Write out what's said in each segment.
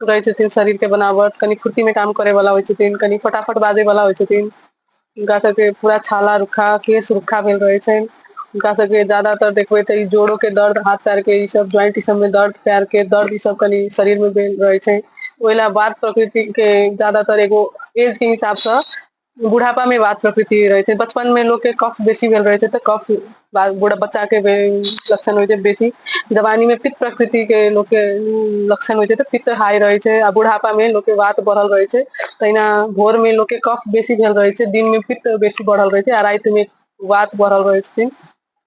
रहै छथिन शरीर के बनावट कनि फुर्ती मे काम करे वाला होइ छथिन कनि फटाफट बाजै वाला होइ छथिन हुनका सबके पूरा छाला रुखा के सुरखा भेल रहै छै हुनका सबके जादातर देखबै तऽ ई जोड़ो के दर्द हाथ पैर के ई सब ज्वइंट ई सब मे दर्द पैर के दर्द ई सब कनि शरीर मे भेल रहै छै ओहि लए बात प्रकृति के जादातर एगो एज के हिसाबसँ बुढ़ापा में बात प्रकृति रहै छै बचपन में लोक के कफ बेसी भेल रहै छै तऽ कफ बाल बूढ़ बच्चा के लक्षण होइ छै बेसी जवानी मे पित्त प्रकृति के लोक के लक्षण होइ छै तऽ पित्त हाइ रहै छै आ बुढ़ापा मे लोक के वात बढ़ल रहै छै तहिना भोर मे लोक के कफ बेसी भेल रहै छै दिन मे पित्त बेसी बढ़ल रहै छै आ राति मे वात बढ़ल रहै छथिन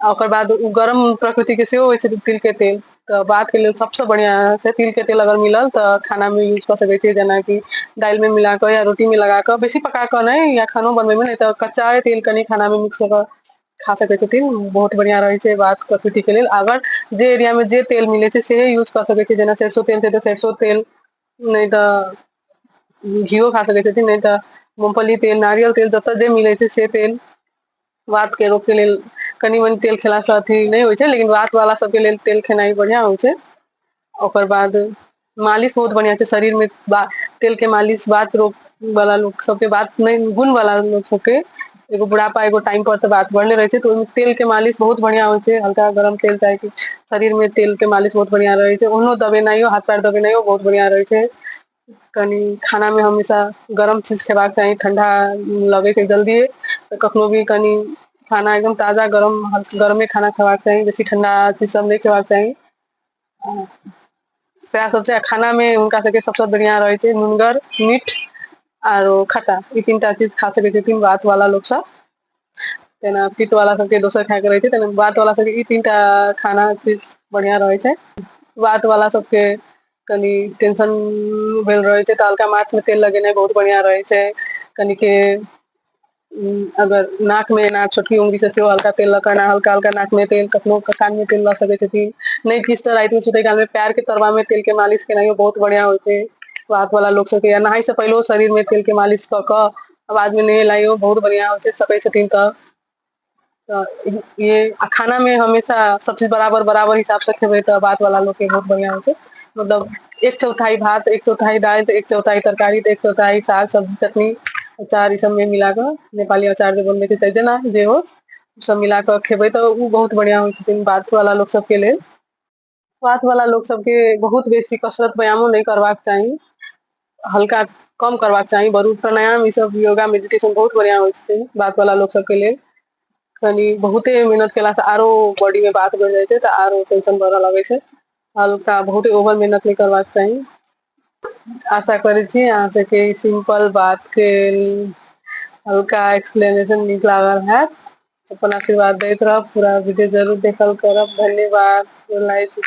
आ ओकर बाद ओ गरम प्रकृतिके सेहो होइ छै तिलके तेल तऽ बातके लेल सभसँ बढ़िआँ छै तिलके तेल अगर मिलल तऽ खानामे यूज कऽ सकै छियै जेनाकि दालिमे मिला कऽ या रोटीमे लगा कऽ बेसी पका कऽ नहि या खानो बनबैमे नहि तऽ कच्चा तेल कनि खानामे मिक्स कऽ कऽ खा सकै छथिन बहुत बढ़िया रहै छै बात प्रकृति के लेल अगर जे एरिया मे जे तेल मिले छै सेहे यूज कऽ सकै छै जेना सरसो तेल छै तऽ सरसो तेल नहि तऽ घीओ खा सकै छथिन नहि तऽ मूगफली तेल नारियल तेल जतय जे मिलै छै से तेल वात के रोग के लेल कनि मनि तेल खेला से अथी नहि होइ छै लेकिन वात वाला सबके लेल तेल खेनाइ बढ़िया होइ छै ओकर बाद मालिश बहुत बढ़िया छै शरीर मे तेल के मालिश वात रोग वाला लोक सबके बात नहि गुण वाला लोक सबके एगो बुढ़ापा एगो टाइम पर तऽ बात बढ़ले रहे छै तऽ ओहिमे तेल के मालिश बहुत बढ़िया होइ छै हल्का गरम तेल चाहे कि शरीर में तेल के मालिश बहुत बढ़िया रहे छै ओहनो दबेनाइयो हाथ पैर दबेनाइयो बहुत बढ़िया रहे छै कनि खानामे हमेशा गरम चीज खेबाक चाही ठंडा लगैके जल्दी तऽ कखनो भी कनि खाना एकदम ताजा गरम गरमे खाना खेबाक चाही बेसी ठंडा चीज सब नहि खेबाक चाही सएह सब छै खानामे हुनका सबके सबसँ बढ़िआँ रहै छै नुनगर मीठ आरो खट्टा ई तीनटा चीज खा सकै छथिन वात वाला लोक सब जेना पित्त वाला सबके दोसर खाय के रहै छै तेना वात वाला सबके ई तीनटा खाना चीज बढ़िया रहै छै वात वाला सबके कनि टेंशन भेल रहै छै तऽ हल्का माथ मे तेल लगेनाइ बहुत बढ़िया रहै छै कनिके उ अगर नाक मे एना छोटकी उंगरी से सेहो हल्का तेल लऽ के एना हल्का हल्का नाक मे तेल कखनो क कान मे तेल लऽ सकै छथिन नै किछ तऽ राति मे सुतै काल मे पैर के तरबा मे तेल के मालिश केनाइयो बहुत बढ़िया होइ छै वात वाला लोक सबके या नहाय से पहिलहो शरीर मे तेल के मालिश कऽ कऽ अब आदमी नहे लाइयो बहुत बढ़िया होइ छै सकै छथिन तऽ तऽ ये आ खाना मे हमेशा सब चीज बराबर बराबर हिसाब से खेबै तऽ भात वाला लोग के बहुत बढ़िया होइ छै मतलब एक चौथाई भात एक चौथाई दाल तऽ एक चौथाई तरकारी तऽ एक चौथाई साग सब्जी चटनी अचार ई सब मे मिला कऽ नेपाली अचार जे बनबै छै तऽ जेना जे होस सब मिला कऽ खेबै तऽ उ बहुत बढ़िया होइ छथिन बार्थो वाला लोग सबके लेल स्वास्थ्य वाला लोग सबके बहुत बेसी कसरत व्यायामो नहीं करवाक चाही हल्का कम करवाक चाही बरू प्राणायाम ई सब योगा मेडिटेशन बहुत बढ़िया होइ छै बात वाला लोग सबके लेल कनी बहुते मेहनत केला से आरो बॉडी में बात बढ़ जाए छै तऽ आरो टेंशन बढ़ऽ लगे छै हल्का बहुते ओवर मेहनत नहीं करवाक चाही आशा करै छी अहाँ सबके ई सिम्पल बात के हल्का एक्सप्लेनेशन नीक लागल हैत अपन आशीर्वाद दैत रहब पूरा वीडियो जरूर देखल करब धन्यवाद गोर लागै छी